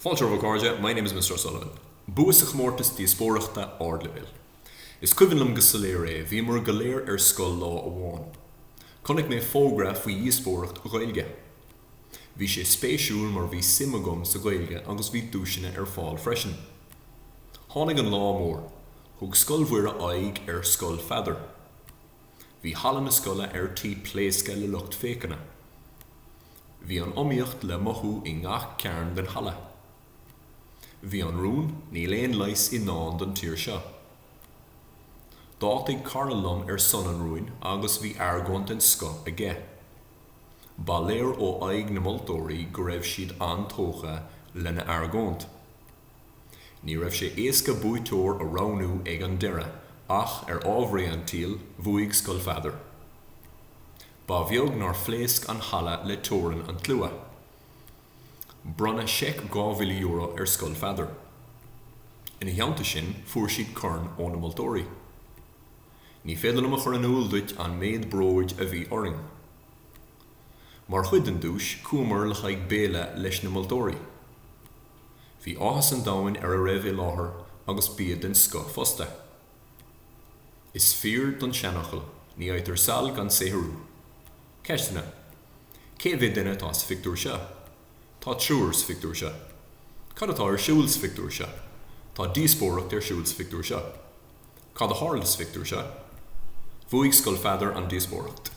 Fáilte romhaibh a chairde, my name is Mr. O'Sullivan. Bua sa chomórtas díospóireachta ardleibhéil. Is cuimhin liom go soiléir é, bhíomar go léir ar scoil lá amháin. Chonaic mé fógra faoi dhíospóireacht Ghaeilge. Bhí sé spéisiúil mar bhí suim agam sa Ghaeilge agus bhí duaiseanna ar fáil freisin. Tháinig an lá mór. Thug Scoil Mhuire aghaidh ar Scoil Pheadair. Bhí halla na scoile ar tí pléascadh le lucht féachana. Bhí an iomaíocht le mothú i ngach cearn den halla. Bhí an rún Níl aon leigheas i ndán don tír seo. D'áitigh cara liom ar son an rúin agus bhí argóint den scoth aige. Ba léir ó aghaidh na moltóirí go raibh siad an-tógtha lena argóint. Ní raibh sé éasca buaiteoir a roghnú ag an deireadh ach ar ámharaí an tsaoil bhuaigh Scoil Pheadair. Ba bheag nár phléasc an halla le torann an tslua. Bronnadh seic dhá mhíle euro ar Scoil Pheadair. Ina theannta sin fuair siad corn ó na moltóirí. Ní féidir liom a chur in iúl duit an méid bróid a bhí orainn. Mar chuid den duais chuamar le haghaidh béile leis na moltóirí. Bhí áthas an domhain ar a raibh i láthair agus bia den scoth fosta. Is fíor don seanfhocal, ní fhaightear saill gan saothrú. Ceisteanna, Cé mhéad duine atá sa phictiúr seo? Tá triúr sa phictiúr seo. Cad atá ar siúl sa phictiúr seo? Tá díospóireacht ar siúl sa phictiúr seo. Cad a tharla sa phictiúr seo? Bhuaigh Scoil Pheadair an díospóireacht.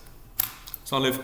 Slán libh!